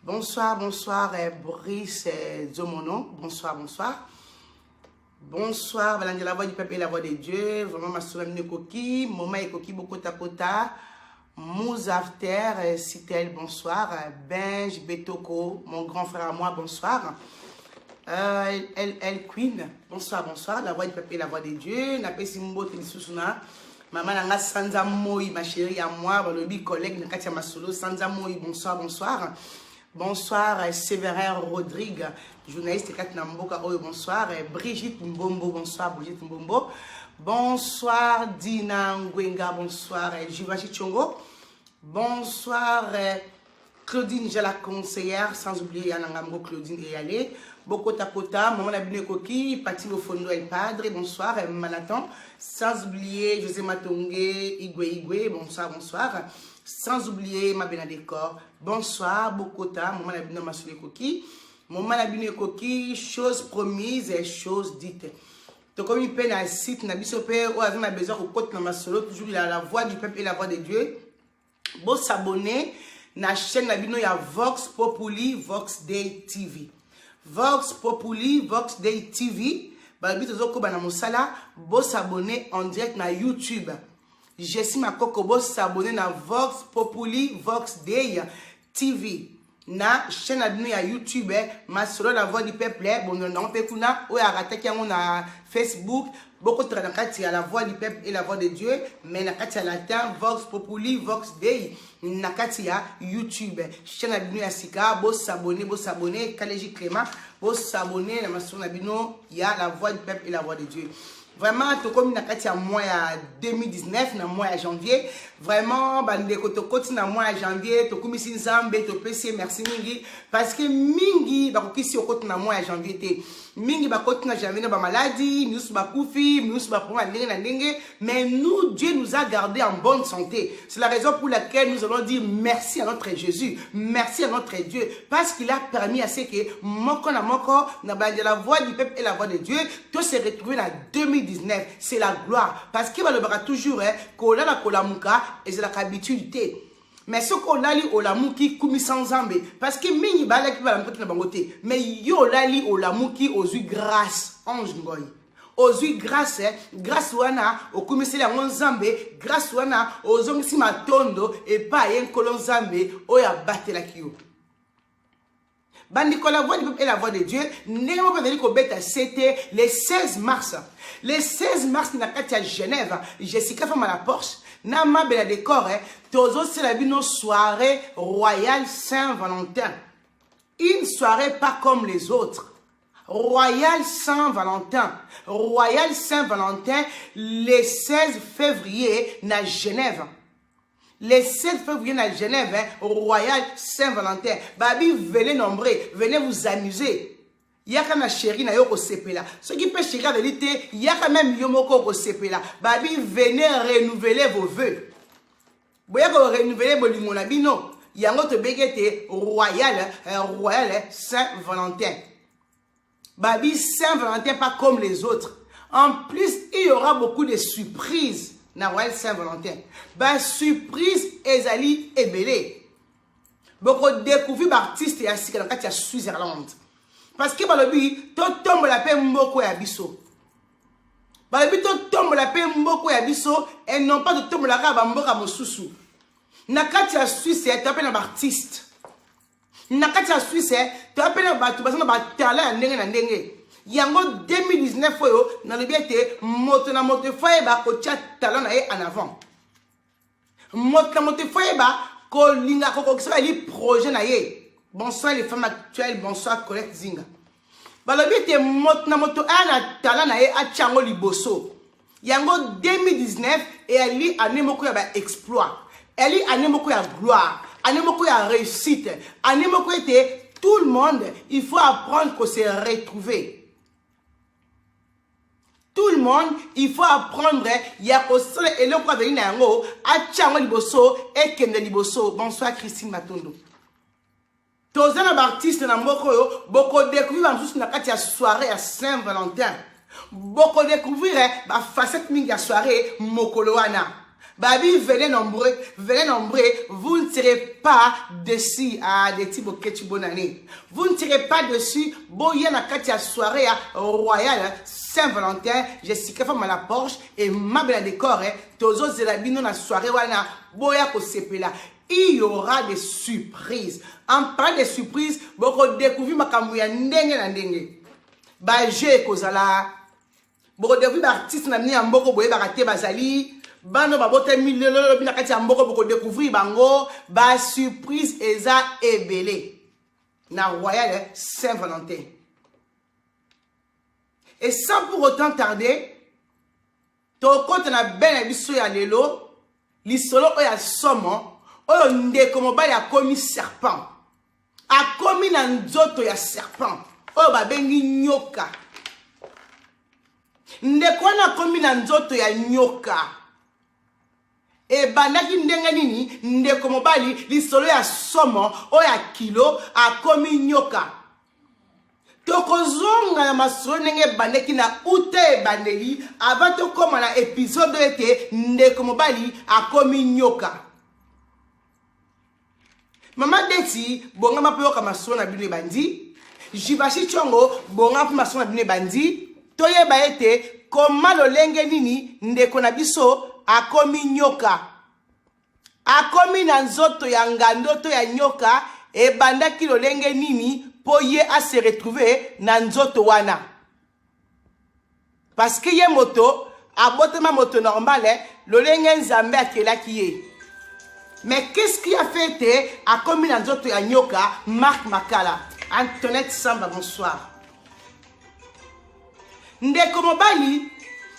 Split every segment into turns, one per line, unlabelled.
Bonsoir, bonsoir, eh, Brice eh, Zomono. Bonsoir, bonsoir. Bonsoir, Valange, la voix du peuple et la voix de Dieu. Vraiment, ma soeur Nekoki, Moma Ekoki, Bokota Kota, Mouzafter, eh, Citel, bonsoir. Eh, Benj, Betoko, mon grand frère à moi, bonsoir. Euh, El, El Queen, bonsoir, bonsoir. La voix du peuple et la voix de Dieu. Napesi Mbote Lissousuna. Mama na nga sanza moi ma chérie ya moi balobi collègue na kati ya masolo sanza moi bonsoir bonsoir bonsoir eh, Severin Rodrigue journaliste kati na mboka oyo bonsoir eh, Brigitte Mbombo bonsoir Brigitte Mbombo bonsoir Dina Ngwenga bonsoir eh, Juvachi Chongo bonsoir Claudine Jala conseillère sans oublier ya nanga moko Claudine Eyale bokota kota maman na bino ekoki Pati Bofondo El Padre bonsoir Manatan sans oublier José Matonge Igwe Igwe bonsoir bonsoir sans oublier Mabena Décor bonsoir bokota maman na bino masolo ekoki maman na bino ekoki chose promise et chose dite tokomi mpe na site na biso mpe oyo aza na besoin kokota na masolo toujours la, la voix du peuple et la voix de Dieu bo s'abonner na chaîne na bino ya Vox Populi Vox Day TV Vox Populi Vox Day TV balobi tozokoba na mosala bo s'abonner en direct na YouTube Jessie Makoko bo s'abonner na Vox Populi Vox Day TV na chaîne na bino ya YouTube eh, masolo na voix du peuple eh, bondona yango mpe kuna oyo arataki yango na Facebook bokotaka na kati ya la voix du peuple et la voix de Dieu mais na kati ya latin vox populi vox dei na kati ya YouTube eh. chaîne na bino ya sika bosabone bosabone kaleji clément bosabone na masolo na bino ya la voix du peuple et la voix de Dieu Vraiment, tokomi na kati ya mois ya 2019 na mois ya janvier. Vraiment, bandeko tokoti na mois ya janvier, tokumisi Nzambe, topesi merci mingi parce que mingi bakokisi okoti na mois ya janvier te. Mingi bakoti na janvier na ba maladie, miusu bakufi, miusu baponga ndenge na ndenge, mais nous Dieu nous a gardé en bonne santé. C'est la raison pour laquelle nous allons dire merci à notre Jésus, merci à notre Dieu parce qu'il a permis à ce que moko na moko na bande la voix du peuple et la voix de Dieu to se retrouver na 2019 c'est la gloire parce que balobaka toujours eh, kolala kolamuka ezalaka habitude te mais soki olali olamuki kumisa nzambe parce que mingi balaki balamukaki na bango te mais yo olali olamuki ozwi grâce ange ngoi ozwi grâce eh, grâce wana okumiseli yango nzambe grâce wana ozongisi matondo epai ye nkolo nzambe oyo abatelaki yo bandeko la voix du peuple et la voix de dieu ndenge moko ezali kobeta sete le 16 mars le 16 mars na kati ya genève jessica fama la porsche na mabela decor eh, tozosela bino soirée royale saint valentin une soirée pas comme les autres Royal Saint-Valentin. Royal Saint-Valentin, le 16 février, na Genève. Les sept frères, vous venez à Genève, hein, au Royal Saint-Valentin. Babi, venez nombreux, venez vous amuser. yaka na sheri na yo kosepela soki mpe sheri azali te yaka meme yo moko okosepela babi venez renouveler vos vœux boya korenouveler bolingo na bino yango tobengi ete royal eh, royal saint valentin Babi Saint Valentin pas comme les autres. En plus, il y aura beaucoup de surprises na Royal Saint Valentin. Ba surprise ezali ebele. Boko découvrir ba artiste ya sika na kati ya Switzerland. Parce que balobi to tombola pe mboko ya biso. Balobi to tombola pe mboko ya biso et non pas to tombola ka ba mboka mosusu. Na kati ya Suisse ya tapé na ba artiste. na kati ya swisse eh, toya mpe na bato baza na batala ya ndenge na ndenge yango 2019 oyo nalobi ete moto na moto efo ayeba kotya tala na ye en avant moto na moto efo ayeba kolinga kokokisa bayeli projet na ye bonsoir les femmes actuelles bonsoir colette zinga balobi ete moto na moto aya na tala na ye atya yango liboso yango 2019 eyali ane moko ya baexploit eyali ane moko ya gloire ane moko ya réussite ane moko ete tout le monde il faut apprendre ko se retrouver tout le monde il faut apprendre ya kosala eloko azali na yango atya yango liboso ekende liboso bonsoir christine matondo Toza na ba artistes na mboka oyo boko découvrir ba mosusu na kati ya soirée ya Saint Valentin. Boko découvrir eh, ba facettes mingi ya soirée mokolo wana. Babi venez nombreux, venez nombreux, vous ne serez pas déçus. Ah, Deti Boketchi, bonne année. Vous ne serez pas déçus. Boya na kati ya soirée ya royale Saint-Valentin, Jessica Femme à la Porsche et Mabela Décor. Eh, tozo zela bino na soirée wana boya kosepela il y aura des surprises en parlant des surprises bokodécouvrir makambo ya ndenge na ndenge bajeu ekozala bokodécouvrir baartiste na bino ya mboko boyebaka te bazali bana babotami lelo lobi na kati ya mboko bokodécouvrir bango basurprise eza ebele na royal saint valentin et sans pour autant tarder tokota na bene na biso ya lelo lisolo oyo ya somo oyo ndeko mobali akomi serpent akomi na nzoto ya serpent oyo babengi nyoka ndeko wana akomi na nzoto ya nyoka Ebandaki ndenge nini ndeko mobali lisolo ya somo oyo ya kilo akomi nyoka? tokozonga na masolo ndenge ebandaki na uta ebandeli ava tokóma na episode oyo ete ndeko mobali akomi nyoka mama deti bongama mpe yoka masolo na bino ebandi jibashi congo bongama mpe masolo na bino ebandi toyeba ete koma lolenge nini ndeko na biso akomi nyoka akomi na nzoto ya ngando to ya nyoka ebandaki lolenge nini mpo ye ase retrouve na nzoto wana parce que ye moto abotama moto normal eh, lolenge nzambe akelaki ye mais qu'est-ce qui a fait te akomi na nzoto ya nyoka mark makala antonette samba bonsoir ndeko mobali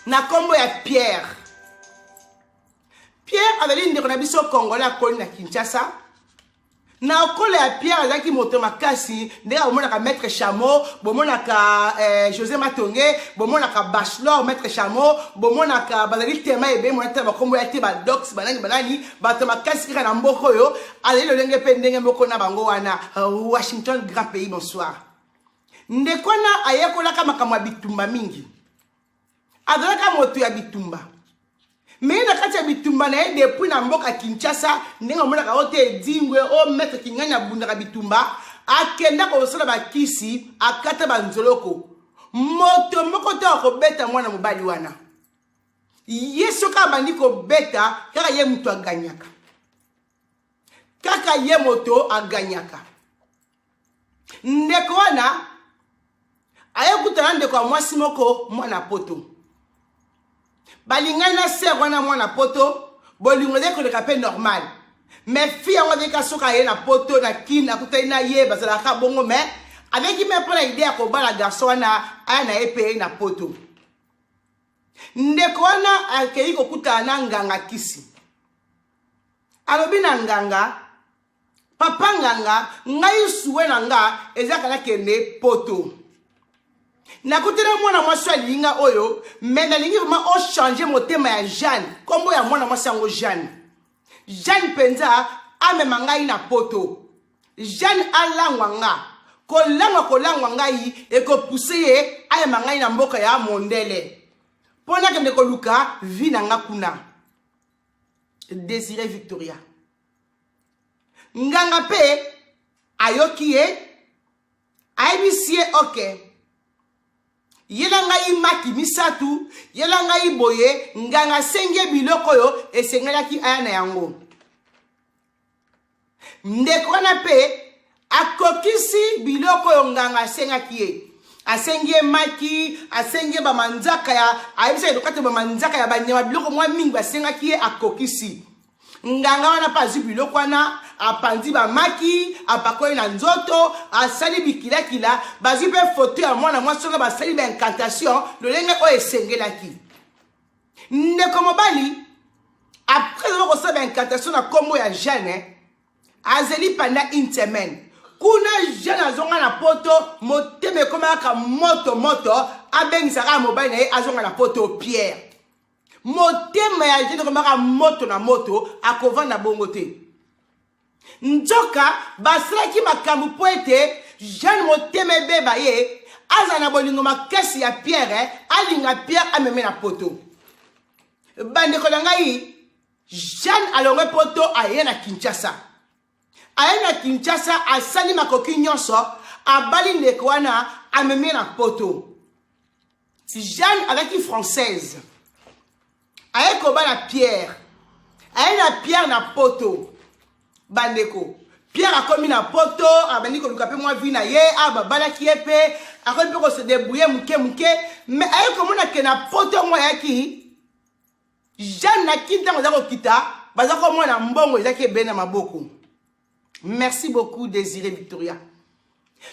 na nkombo ya pierre pierre azali ndeko na biso congolais akoli na kinshasa na kola ya pierre azalaki moto makasi ndenge bomonaka maître chameau bomonaka eh, josé matonge bomonaka bachelor maître chameau bomonaka bazali tema ebe monatala bakombo ya te badox banani banani bato makasi kaka na mboka oyo azali lolenge mpe ndenge moko na bango wana washington grand pays bonsoir ndeko wana ayekolaka makambo ya bitumba mingi azalaka moto ya bitumba me na kati ya bitumba na ye depuis na mboka kinshasa ndenge amonaka yango te edingwe o oh, maître kingani abundaka bitumba akenda kosala bakisi akata banzoloko moto moko te akobeta mwana mobali wana ye soki abandi kobeta kaka ye moto aganyaka kaka ye moto aganyaka ndeko wana aye kutana ndeko ya mwasi moko mwana poto balingani na ser wana mwana poto bolingo ezali koleka mpe normal mais fi yango azalika soki aye na poto na kine akutani na ye bazalaka bongo mais azaliki me mpo na ide ya kobala garso wana aya na ye mpe na poto ndeko wana akei kokutana na nganga kisi alobi na nganga papa nganga ngai suwe na nga eza kaka nakende poto nakutana mwana mwasi oyo alingi nga oyo me nalingi vraimen ochange motema ya jeanne nkombo ya mwana mwasi yango jeanne jeanne mpenza amema ngai na poto jeanne alangwa nga kolangwa kolangwa ngai ekopuse ye ayema ngai na mboka ya mondele mpo nakende koluka vi na nga kuna desire victoria nganga mpe ayoki ye ayebisi ye oke yela ngai maki misato yela ngai boye nganga asengi ye biloko oyo esengelaki aya na yango ndeko wana mpe akokisi biloko oyo nganga asengaki ye asengi ye maki asengi ye bamanzaka ya ayebisa ye lokati bamanzaka ya banyama biloko mwa mingi basengaki ye akokisi nganga wana mpe azwi biloko wana apanzi bamaki apakoli na nzoto asali bikilakila bazwi mpe foto ya mwana mwasi wana basali baincantation lolenge oyo esengelaki ndeko mobali après aza kosala baincantation na nkombo ya jeune eh, azeli panda une semaine kuna jeune azonga na poto motema ekomaka moto moto abengisaka mobali na ye azonga na poto pierre motema ya jeune ekomaka moto na moto akovanda bongo te nzoka basalaki makambo mpo ete jeanne motema ebeba ye azala na bolingo makasi ya pierre eh, alinga pierre ameme na poto bandeko na ngai jeanne alongwe poto aye na kinshasa aye na kinshasa asali makoki nyonso abali ndeko wana amemi na poto Jeanne azalaki française aye koba na pierre aye na pierre na poto bandeko pierre akomi na poto abandi koluka mpe mwa vi na ye a babalaki ye mpe akomi mpe kose debrouille moke moke mais aye komona ke na poto yango ayaki jeanne na kin ntango aza kokita baza komona mbongo ezaki ebele na maboko merci beaucoup désiré victoria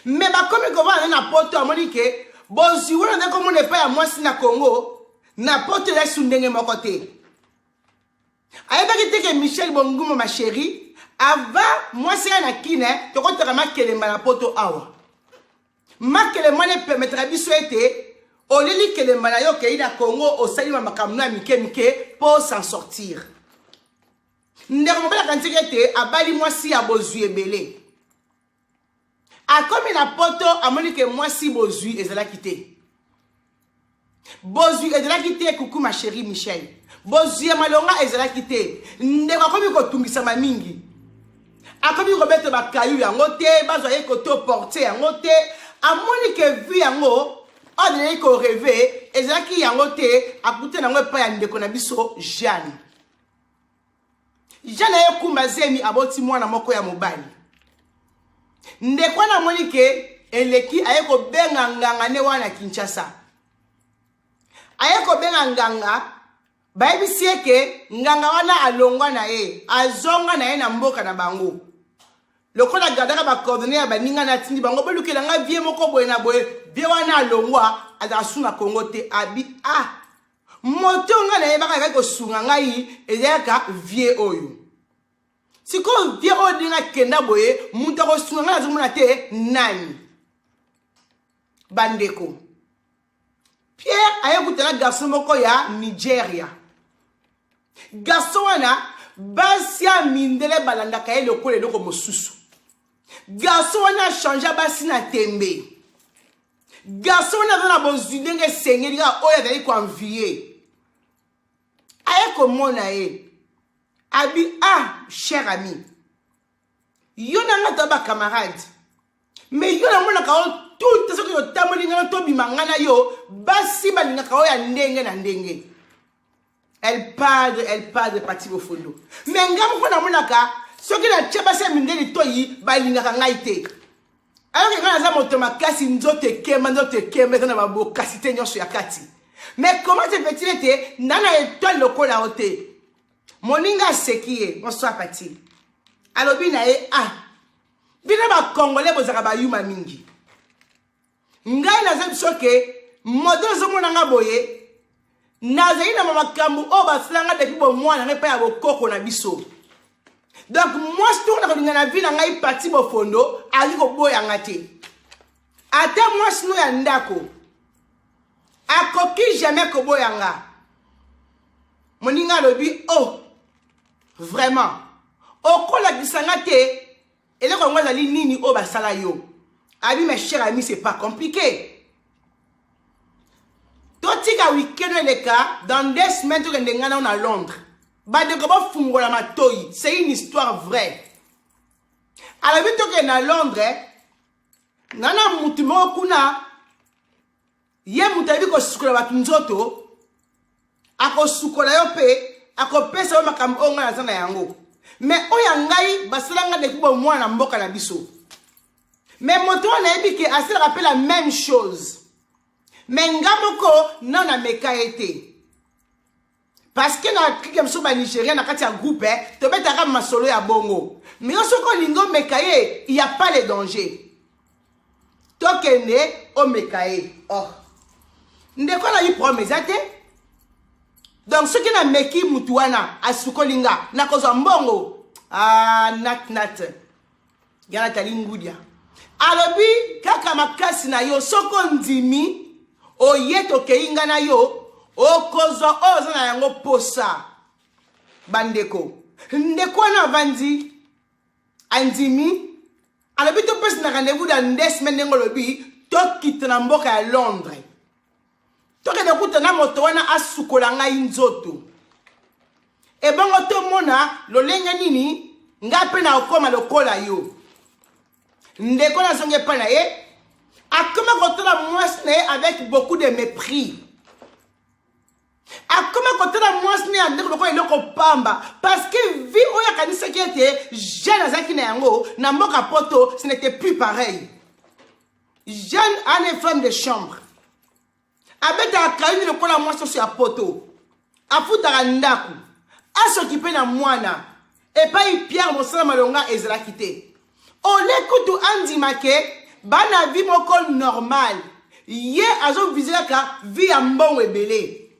me bakomi kovanda na poto amoni ke bozwi wana nde komona epai ya mwasi na congo na poto yesu ndenge moko te ayebaki te ke michel bonguma ma chérie ava mwasi ya na kine tokotaka makelemba na poto awa makelemba na epemetaka biso ete oleli kelemba na yo okei na congo osali ma makambo na ya mike mike mpo s'en sortir ndeko mobali akanisaki ete abali mwasi ya bozwi ebele akomi na poto amoni ke mwasi bozwi ezalaki te bozwi ezalaki te kuku ma chérie michel bozwi ya malonga ezalaki te ndeko akomi kotungisama mingi akomi kobeta bakayu yango te bazwa ye koto porte yango te amoni ke vi yango oyo azalaki koreve ezalaki yango te akuta na yango epai ya ndeko na biso jeanne jana ye kumba zemi aboti mwana moko ya mobali ndeko wana amoni ke eleki aye kobenga nganga nde wana kinshasa aye kobenga nganga bayebisi ye ke nganga wana alongwa na ye azonga na ye na mboka na bango lokola gardaka bacoordonne ya baninga natindi bango bolukela ngai vie moko boye na boye vie wana alongwa azala su na congo te abi ah moto ngai nayebaka ayaki kosunga ngai ezalaka vie oyo sikoyo vie oyo ndenge akenda boye moto akosunga ngai nazomona te nani bandeko pierre aye kutana garçon moko ya nigeria garçon wana basi ya mindele balandaka ye lokola eloko mosusu garçon wana achange basi na tembe garçon wana aza na bozwi ndenge esengeli kaka oyo azali koanvie aye komona ye abi ah cher ami yo na nga toya bacamarade mais yo namonaka yo toute soki otamboli ngai tobima ngai na yo basi balingaka oyo ya ndenge na ndenge El padre, el padre Pati Bofondo. Mais nga moko namonaka soki natya basi ya mindele toyi balingaka ngai te alors ngai naza moto makasi nzoto ekemba nzoto ekemba eza na babokasi te nyonso ya kati mais comment se fait-il ete nda na etoile lokola yo te moninga aseki ye bonsoir pati alobi na ye ah bino bakongole bozalaka bayuma mingi ngai naza biso ke moto ezomona nga boye nazali na makambo oyo basala nga depuis bomwana ngai epai ya bokoko na biso donc mwasi toko na kolinga na vi na ngai pati bofondo azali koboya nga te ata mwasi no ya ndako akoki jamais koboya nga moninga alobi o oh, vraiment okolakisa nga te eloko yango ezali nini oyo basala yo abi ma chère ami c'est pas compliqué totika weekend eleka dans deux semaines tokende ngai nao na londres bandeko bofungola matoi c'est une histoire vraie alobi tokende na londres ngai na motu moko kuna ye moto ayebi kosukola bato nzoto akosukola yo mpe akopesa yo makambo oyo ngai naza na yango me oyo ya ngai basala ngai depuis bomwana na mboka na biso me moto oyo nayebi ke asalaka mpe la même chose me nga moko nano ameka ye te parce que na clique ya biso ba nigérien na kati ya groupe eh, tobetaka masolo ya bongo mais yo soki olingi omeka ye il y a pas le danger tokende omeka ye oh ndeko nayi problème eza te donc soki nameki motu wana asukoli nga nakozwa mbongo ah, nat nat ya natali ngudia alobi kaka makasi na yo soki ondimi oye tokei ngai na yo okozwa oyo oza na yango posa bandeko ndeko wana avandi andimi alobi topesi na rendez-vous dans deux semaine ndenge olobi tokita na mboka ya londres tokende kuta na moto wana asukola ngai nzoto ebongo tomona lolenge nini ngai mpe nakokoma lokola yo ndeko nazongi epai na ye akoma kotala mwasi na ye avec beaucoup de mépris akoma kotala mwasi na ya ndeko lokola eloko pamba parce que vie oyo akanisaki ete jeune azalaki na yango na mboka poto ce n'était plus pareil jeune ane femme de chambre abetaka kayini lokola mwasi oso ya poto afutaka ndako asokipe na mwana epai pierre mosala malonga ezalaki te ole kutu andima ke bana vi moko normale ye azovise kaka vi ya mbongo ebele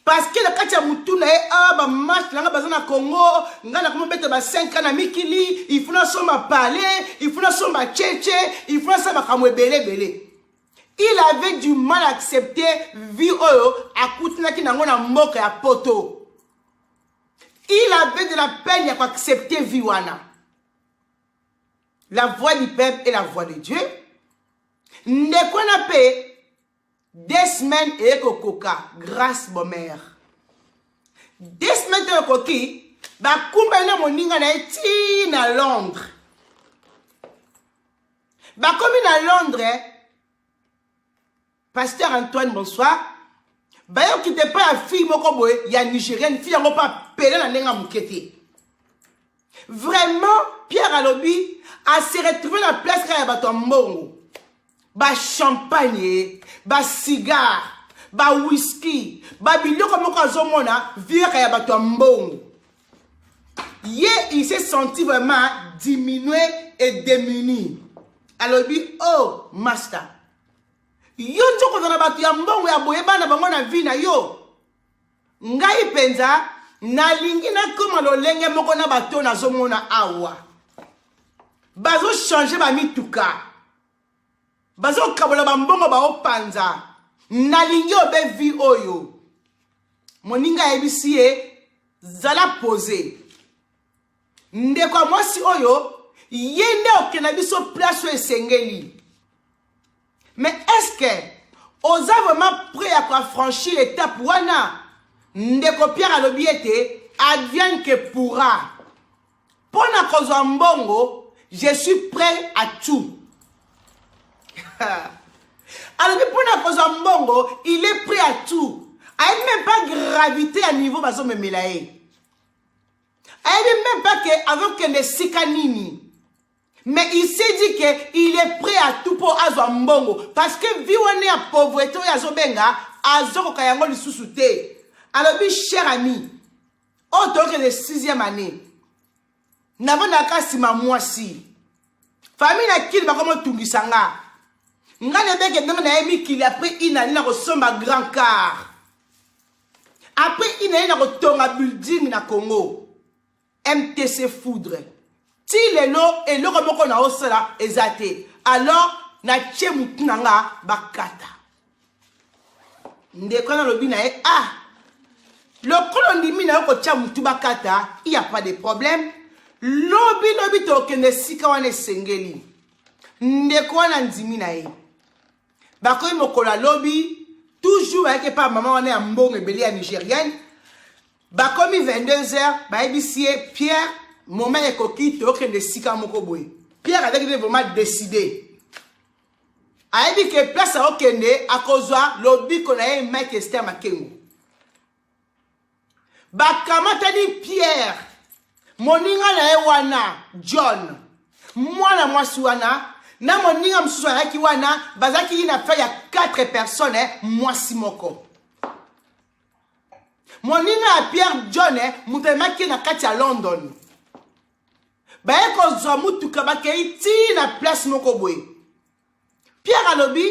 parce que na kati ya motu na ye awa ah, bamarche na ngai baza na congo ngai nakoma beta ba 5 na mikili il faut nasomba palais il faut nasomba cheche il faut nasala makambo ebele ebele il avait du mal accepter vie oyo akutanaki na yango na mboka ya poto il avait de la peine ya koaccepter vie wana la voix du peuple et la voix de dieu ndeko na mpe Deux semaines eye kokoka grâce bomère. Deux semaines to ekoki bakumbeli na moninga na ye tii na Londres. Bakomi na Londres Pasteur Antoine bonsoir. Bayoki te pa ya fille moko boye ya Nigérienne fille yango pa pele na ndenge moke te. Vraiment Pierre alobi a se retrouver na place kaka ya bato ya mbongo. ba champagne ba cigare ba whisky ba biloko moko azomona viaka ya bato ya mbongo ye il s'est senti vraiment diminue et démuni alobi oh master yo nzokozala bato ya mbongo ya boye bana bango na vie na yo ngai mpenza nalingi nakoma lolenge moko na bato nazomona awa bazochange bamituka bazokabola bambongo baopanza nalingi obe vi oyo moninga ayebisi ye zala pose ndeko ya mwasi oyo ye nde okenda biso place oyo esengeli mais est-ce que oza vraiment prêt ya koafranchir etape wana ndeko pierre alobi ete advienne que pourra mpo na kozwa mbongo je suis prêt à tout alobi mpo na kozwa mbongo il est prêt à tout ayebi même pas gravité ya niveau bazomemela ye ayebi meme pas ke azokende esika nini mais il s'est dit que il est prêt à tout mpo azwa mbongo parce que vie wana ya pauvrete oyo azobenga azokoka yango lisusu te alobi cher ami oyo oh, toyokende sixième année navandaka nsima mwasi famille na kili bakomotungisa nga nga nebeke ndenge naye mikili apres inani nakosomba grand car après il naye na kotonga building na congo mtc foudre ti lelo eloko moko na osala eza te alors natie motu na nga bakata ndeko wana alobi na ye ah lokola ondimi na yo kotia motu bakata il ya pas de problème lobi lobi tokende esika wana esengeli ndeko wana andimi na ye bakomi mokolo ya lobi toujours ayaki epa mama wana ya mbongo ebele ya nigérienne bakomi 22 heures bayebisi ye pierre moment ekoki toyokende esika moko boye pierre azalaki nde vraiment décide ayebi ke place akokende akozwa lobiko na ye mike ester makengo bakamatani pierre moninga na ye wana john mwana mwasi wana na moninga mosusu ayaki wana bazalaki ye na fai ya 4 personne eh, mwasi moko moninga ya pierre john eh, moto amemaki ye na kati ya london baye kozwa motuka bakei ti na place moko boye pierre alobi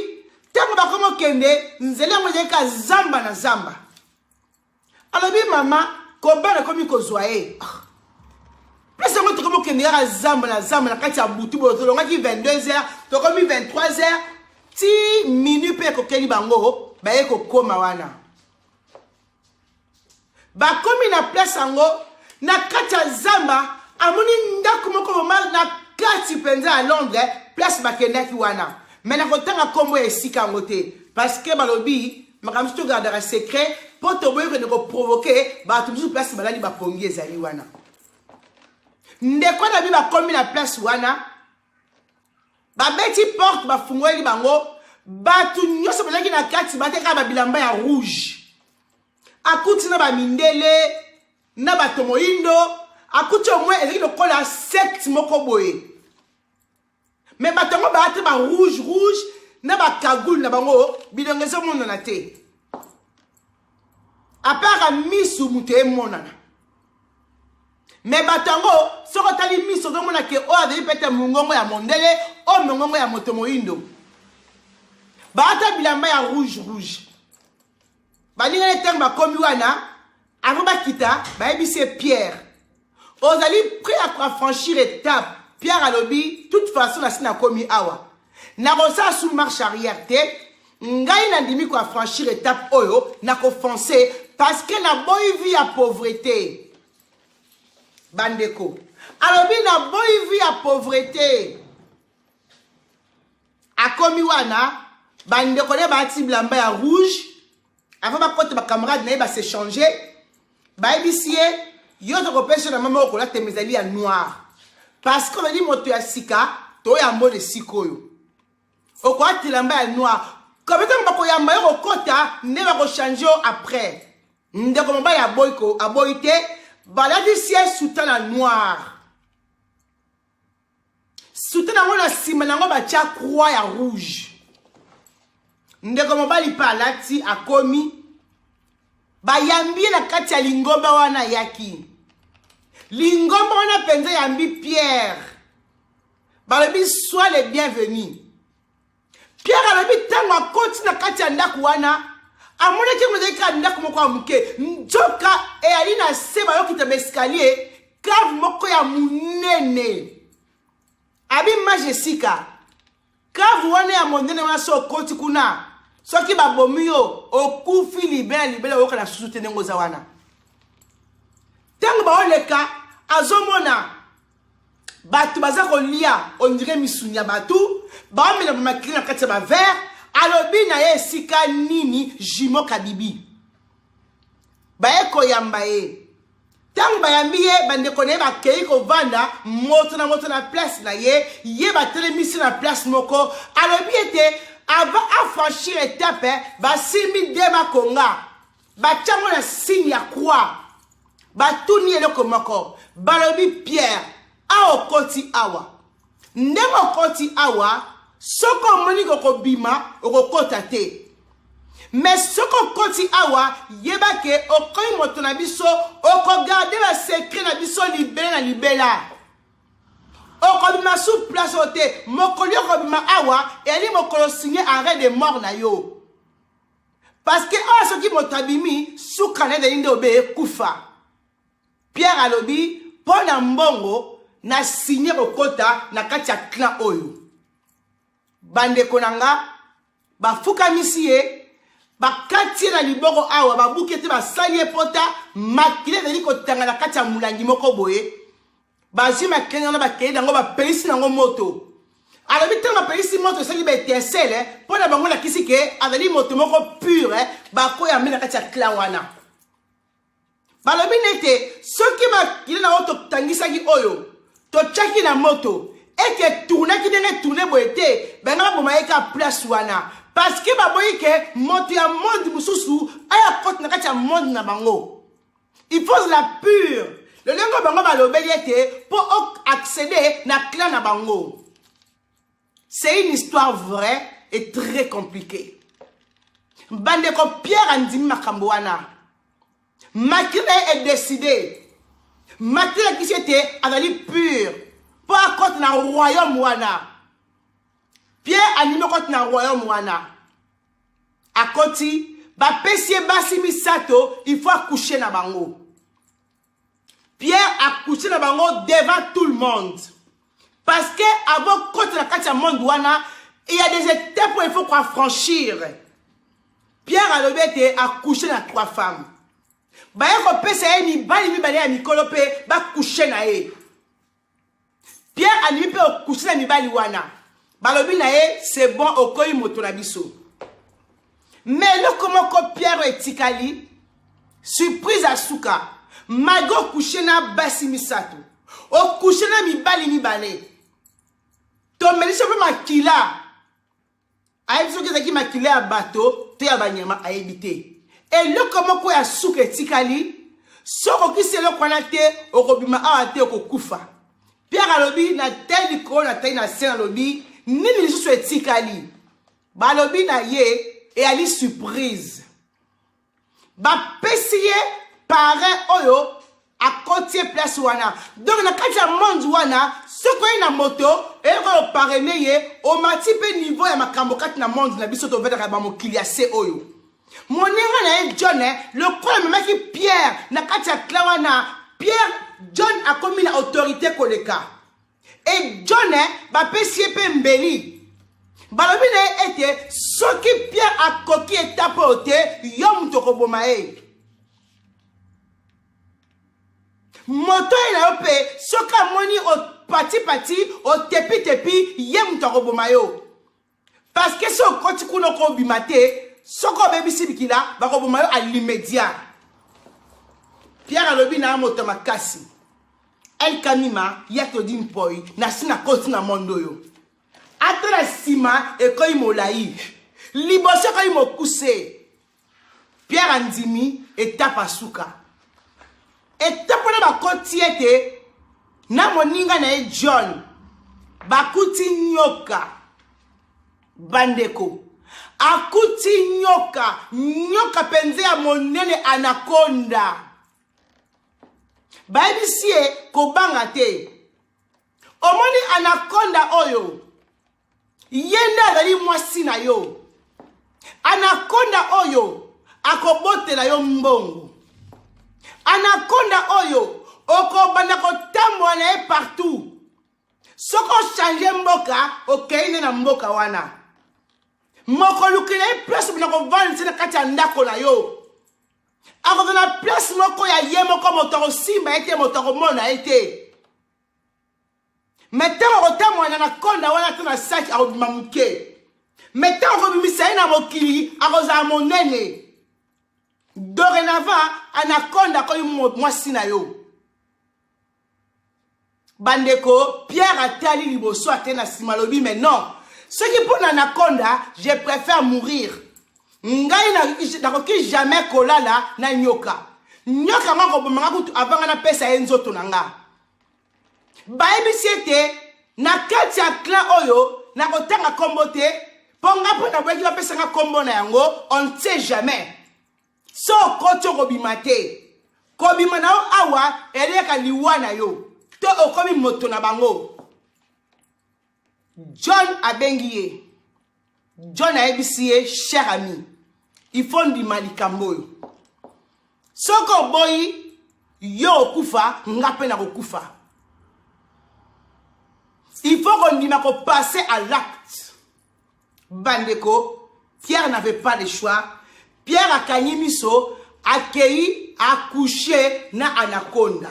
ntango bakoma okende nzela yango ezali ka zamba na zamba alobi mama kobana ekomi kozwa ye ah. place yango tokomi okende kaka zamba na zamba na kati ya butu boyo tolongaki 22 heures tokomi 23 heures ti minut mpe ekokeli bango baye kokoma wana bakomi na place yango na kati ya zamba amoni ndako moko bomale na kati mpenza ya londres place bakendaki wana me nakotanga nkombo ya esika yango te parce que balobi makambo mosusu togardaka secret mpo toboyi kende koprovoke bato mosusu place balali bapongi ezali wana ndeko na bi bakomi na place wana babeti porte bafungoleli bango bato nyonso bazalaki na kati bateka babilamba ya rouge akuti na bamindele na bato moindo akuti omwe ezalaki lokola secte moko boye me bato yango baate ba rouge rouge na bakagule na bango bilongo ezomonana te apara misu moto emonana me bato yango soki otali miso okomona ke oyo azali pete mongongo ya mondele oyo mongongo ya moto moindo baata bilamba ya rouge rouge balingani ntango bakomi wana avant bakita bayebisi ye pierre ozali prêt à affranchir étape pierre alobi toute façon nasi nakomi awa nakosala sous marche arrière te ngai nandimi koaffranchir étape oyo nakofonce parce que naboyi vie ya pauvreté bandeko alobi naboyi vie ya pauvreté akomi wana bandeko ne baati bilamba ya rouge avant bakota bacamarade na ye basechange bayebisi ye yo tokopesa na mama okola tema ezali ya noir parce que ozali moto ya sika to ya mbona esika oyo okoya tilamba ya noir kabe ntango bakoyamba yo kokota nde bakochange yo après ndeko mobali aboyi aboyi te balatisi ye sutana noire sute nango na nsima nango batya croix ya rouge ndeko mobali mpe alati akomi bayambi ye na kati ya lingomba wana ayaki lingomba wana mpenza yambi pierre balobi soi le bienvenu Pierre alobi ntango akoti na kati ya ndako wana amonaki yango ezali kaka ndako moko ya moke nzoka eyali na se bayokita baeskalier cave moko ya monene abi mage esika cave wana ya monene wana so okoti kuna soki babomi yo okufi libela libela oyoka na susu te ndenge oza wana ntango baoleka azomona bato baza kolia ondire misuni ya bato baomela bamakili na kati ya bavere alobi na ye esika nini jimo kabibi baye koyamba ye ntango bayambi ye bandeko na ye bakei kovanda moto na moto na place na ye ye batelemisi na place moko alobi ete avant afranchir etape basimbi dema konga batya ngo na signe ya croix batuni eloko moko balobi pierre awa okoti awa ndenge okoti awa soki omoni kokobima okokota te me soki okoti awa yeba ke okomi moto na biso okogarde basekre na biso libela na libela okobima su place oyo te mokolo okobima awa eyali mokolo signe arret de mort na yo paske oyo soki moto abimi suka na ezali nde obeye kufa pierre alobi mpo na mbongo na signe kokota na kati ya clan oyo bandeko na nga bafukamisi ye bakati ye na liboko awa babuki ete basali ye pota makila ezali kotanga na kati ya molangi moko boye bazwi makenge wana bakei nango bapelisi nango moto alobi ntango bapelisi moto esali baetincele mpo na bango lakisi ke azali moto moko pure bakoya mbe na kati ya clan wana balobi nete soki makili na oyo totangisaki oyo totyaki na moto ete etournaki ndenge etourne boye te banga baboma ye ka place wana parceke baboyi ke moto ya monde mosusu aya kote na kati ya monde na bango il faut ozala pure lolenge bango balobeli ete mpo oaccede na clan na bango c'est une histoire vraie et très compliquée bandeko pierre andimi makambo wana makri na ye edeside makri alakisi ete azali pure mpo akota na royaume wana pierre andimi okoti na royaume wana akoti bapesi ye basi misato il faut akouche na bango pierre akouche na bango devant tout le monde parce que avant koti na kati ya monde wana il y a des étapes oyo il faut koaffranchir pierre alobi ete akouche na trois femmes baye kopesa ye mibali mibale ya mikolo mpe bakouche na ye pierre andimi mpe okusi na mibali wana balobi na ye se bon okoyi moto na biso me eloko moko pierre oyo etikali surprise ya suka magi okushe na basi misato okushe na mibali mibale tomelisi mpe makila ayebi soki ezalaki makila ya bato to ya banyama ayebi te eloko moko ya suka etikali soki okisi eloko wana te okobima awa te okokufa pierre alobi natali likolo natali na se nalobi nini lisusu etikali balobi na ye eyali surprise bapesi ye pare oyo akotie place wana donc na kati ya monde wana soki oye na moto eyoko oyo parene ye omati mpe niveau ya makambo kati na monde na biso tovetaka bamokili ya se oyo moninga na ye john eh, lokola amemaki pierre na kati ya kla wana pierre john akomi na autorité koleka e john eh, bapesi ye mpe mbeli balobi na ye ete soki pierre akoki etape oyo te yo moto okoboma ye moto ye na yo mpe soki amoni opatipati otepitepi ye moto akoboma yo Parce que soki okoti kuna okobima te soki obebisi bikila bakoboma yo alimedia pierre alobi na moto makasi el kamima ya todi mpoi nasi nakoti na mondo oyo ata na nsima ekoi molai liboso ekoi mokuse pierre andimi etape ya suka etape wana bakoti ete na moninga na ye john bakuti nyoka bandeko akuti nyoka nyoka mpenza ya monene anakonda bayebisi ye kobanga te omoni anakonda oyo ye nde azali mwasi na yo anakonda oyo akobotela yo mbongo anakonda oyo okobanda kotambola na ye partout soki ochange mboka okei nde na mboka wana mokolukela ye place obanda kovandisa na kati ya ndako na yo akozala na place moko ya ye moko moto akosimba ye te moto akomona ye te me ntango akotambola na konda wana to na saki akobima moke me ntango akobimisa ye na mokili akozala monene dorénavant anakonda akomi mwasi na yo bandeko pierre atali liboso ake na nsima alobi me non soki mpo na anakonda je préfère mourir ngai nakoki jamais kolala na nyoka nyoka yango akobomanga kutu avanga napesa ye nzoto na ngai bayebisi ete na kati ya clan oyo nakotanga nkombo te mpo nga mpo naboyaki bapesa nga nkombo na yango on ne sait jamais so okoti okobima te kobima na yo awa eleka liwa na yo to okomi moto na bango john abengi ye john ayebisi ye cher ami ifo ndima likambo oyo soki oboyi yo okufa nga mpe nakokufa il faut kondima kopasser à l'acte bandeko pierre n'avait pas le choix pierre akangi miso akei akushe na anaconda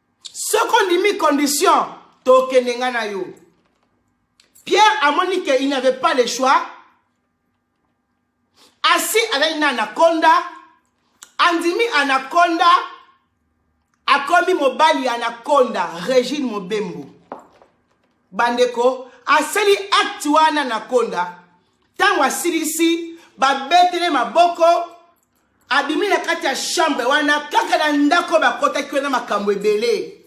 soki ondimi condition tokende nga na yo pierre amoni ke il n'avait pas le choix asi azali na anaconda andimi anaconda akomi mobali ya anaconda regine mobembo bandeko asali acte wana anaconda ntango asilisi babetele maboko abimi na kati ya chambre wana kaka na ndako bakotaki wana makambo ebele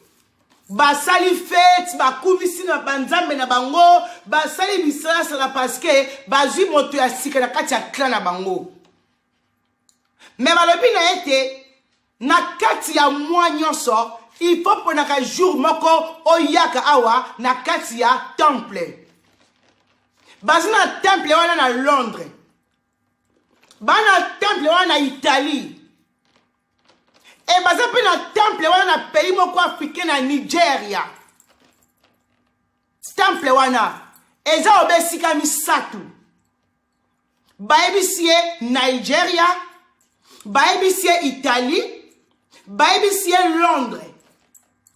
basali fete bakumisi na banzambe na bango basali bisalasala parceke bazwi moto ya sika na kati ya kla na bango me balobi na ye te na kati ya mwa nyonso il faut mponaka jour moko oyaka awa na kati ya temple baza na temple wana na londres bana temple wana na italie e baza mpe na temple wana na pays moko africain na nigeria temple wana eza obe esika misato bayebisi ye nigeria bayebisi ye italie bayebisi ye londres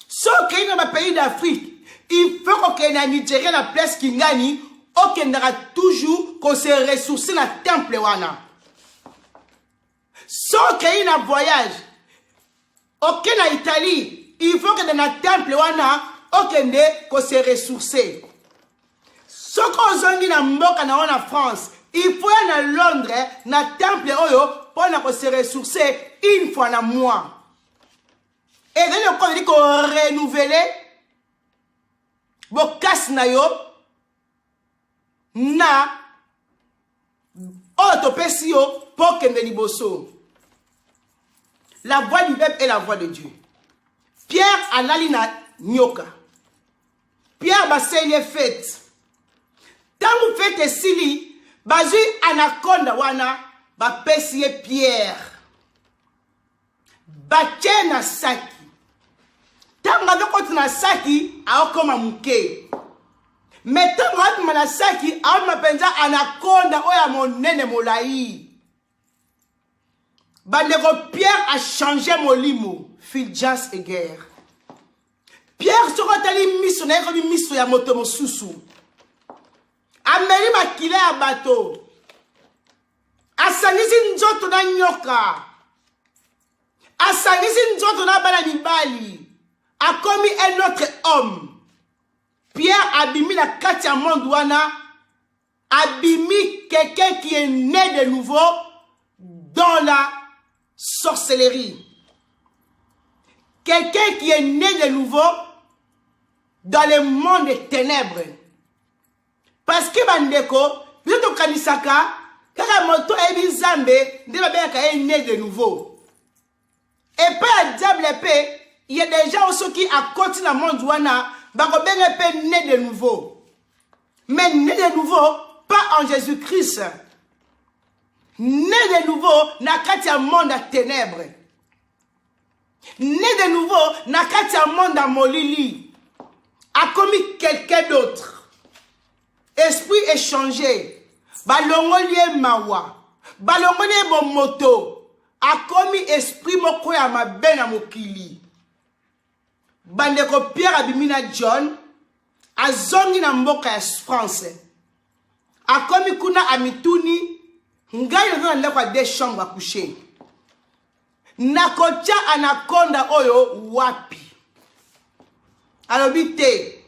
so okei na bapays d'afrique il faut kokende na nigeria na place kingani okendaka toujours kose ressource na temple wana so okei na voyage oke na italie il faut okende na temple wana okende kose ressource soki ozongi na mboka na yo na france il faut ya na londres na temple oyo mpo na kose ressource une fois na mois ezali lokola ozali korenouvele bokasi na yo na oyo oh, topesi yo mpo okende liboso la voix du peuple est la voix de dieu pierre alali na nyoka pierre baseli ye fete ntango fete esili bazwi anakonda wana bapesi ye pierre batye na saki ntango azokoti na saki aokoma moke me ntango abima na saki abima mpenza anakonda oyo ya monene molai bandeko pierre achange molimo filjas eger pierre soki otali miso na ye ekomi miso ya moto mosusu ameli makila ya bato asangisi nzoto na nyoka asangisi nzoto na bana mibali akomi un autre homme pierre abimi na kati ya monde wana abimi quelqu'un qui est né de nouveau dans la sorcellerie quelqu'un qui est né de nouveau dans le monde des ténèbres parce que bandeko biso tokanisaka kaka moto ayebi nzambe nde babengaka ye ne de nouveau epai ya diable mpe ye deja soki akoti na monde wana bakobenga mpe ne de nouveau mais ne de nouveau pas en jésus christ ne de nouveau na kati ya monde ya ténèbre ne de nouveau na kati ya monde ya molili akomi quelqu'un d'autre esprit échange balongoli ye mawa balongoli ye bomoto akomi esprit moko ya mabe na mokili bandeko pierre abimi na john azongi na mboka ya france akomi kuna amituni ngai naza na ndako ya de chambre ya coucher nakotya anakonda oyo wapi alobi te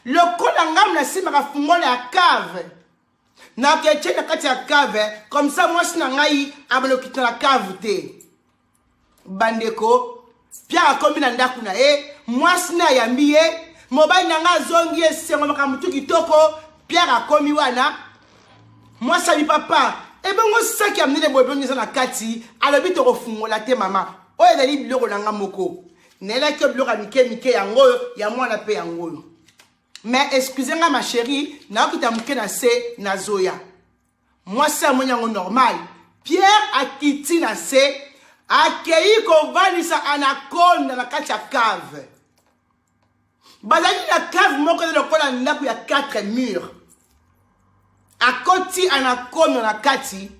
lokola ngai nasimbaka fungola ya cave naketye na kati ya cave comme ça mwasi na ngai abalokita na cave te bandeko pia akomi na ndako na ye mwasi na ayambi ye mobali na ngai azongi esengo makambo tu kitoko pierre akomi wana Mwasi abi papa, ebongo saki ya minene boye ebongi eza na kati, alobi tokofungola te mama, oyo ezali biloko na nga moko. Nayelaki yo biloko ya mike mike yango oyo, ya mwana mpe yango oyo. Mais excuse nga ma chérie, naokita moke na se nazoya. Mwasi amoni yango normal. Pierre akiti na se, akei kovandisa anaconda na kati ya cave. bazalaki na cave moko eza lokola ndako ya 4 mur akoti anakonda na kati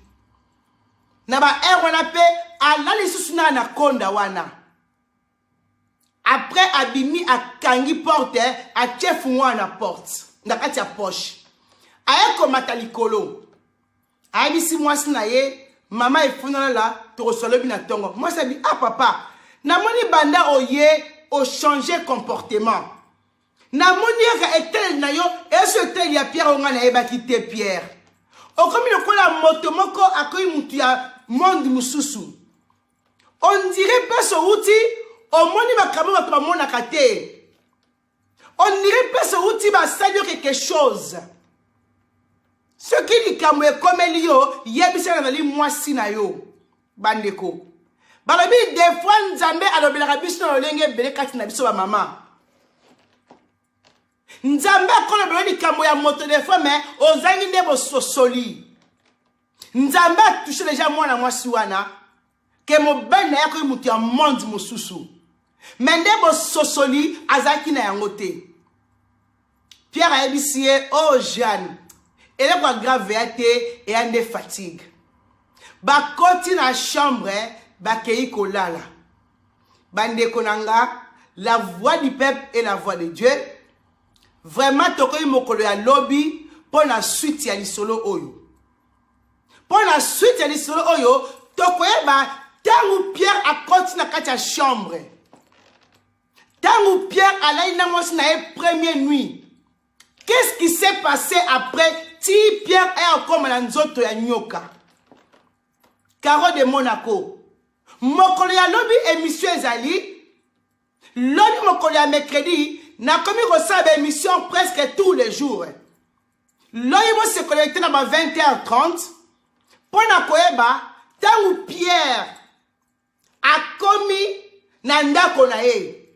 na baheure wana mpe alali lisusu na anakonda wana après abimi akangi porte atie fungoa na porte na kati ya poche aye komata likolo ayebisi mwasi na ye mama efunalala tokoswa lobi na ntongo mwasi abi a ah, papa namoni banda oye ochange comportement namoni yaka etaleli na yo eso etaleli ya pierre oyo ngai nayebaki te pierre okomi lokola moto moko akomi motu ya monde mosusu ondire mpasi owuti omoni makambo bato bamonaka te on dirait mpese outi basali yo quelque chose soki likambo ekomeli yo yebisa nazali mwasi na yo bandeko balobi defoi nzambe alobelaka biso na lolenge ebele kati na biso bamama nzambe akolobela likambo ya moto defoi me ozangi nde bososoli nzambe atushe deja mwana mwasi wana ke mobali na ye akoki moto ya monde mosusu me nde bososoli azalaki na yango te pierre ayebisi ye o oh, jeanne eloko ya grave ya te eya nde fatigue bakoti na chambre bakei kolala bandeko na nga la voix du peuple et la voix de dieu vraiment tokoki mokolo ya lobi mpo na suite ya lisolo oyo mpo na suite ya lisolo oyo tokoyeba ntango pierre akoti na kati ya chambre ntango pierre alali na mwasi na ye premier nuit qu'est-ce qui s'est passé après ti pierre aya okoma na nzoto ya nyoka caro de monaco mokolo ya lobi emission ezali lobi mokolo ya mercredi nakomi kosala baémission presque tous les jours loyi bosekola ete na ba 20 h 30 mpo na koyeba ntango pierre akomi na ndako na ye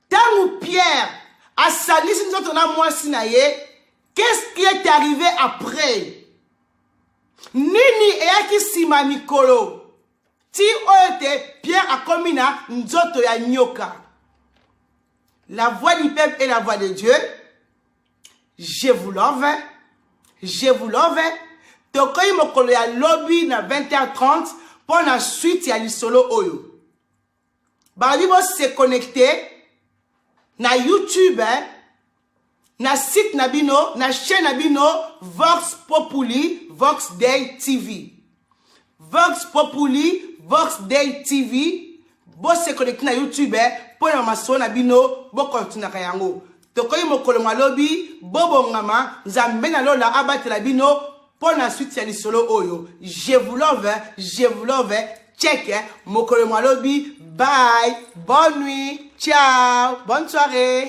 ntango pierre asangisi nzoto na mwasi na ye qu'est-ce qui est arrivé après nini eyaki nsima mikolo ti oyo te pierre akomi na nzoto ya nyoka la voix du peuple et la voix de dieu je vous love je vous love tokoyi mokolo ya lobi na 20h30 mpo na suite ya lisolo oyo balobi bo se connecte na youtube eh? na site na bino na chaîne na bino vox populi vox day tv vox populi vox day tv bose connecte na youtube eh, mpo na masolo na bino bokontinaka yango tokoki mokolo mwa lobi bobongama nzambe na lola abatela bino Pour la suite ya lisolo oyo je vous love je vous love check mokolo mwa lobi bye bonne nuit ciao bonne soirée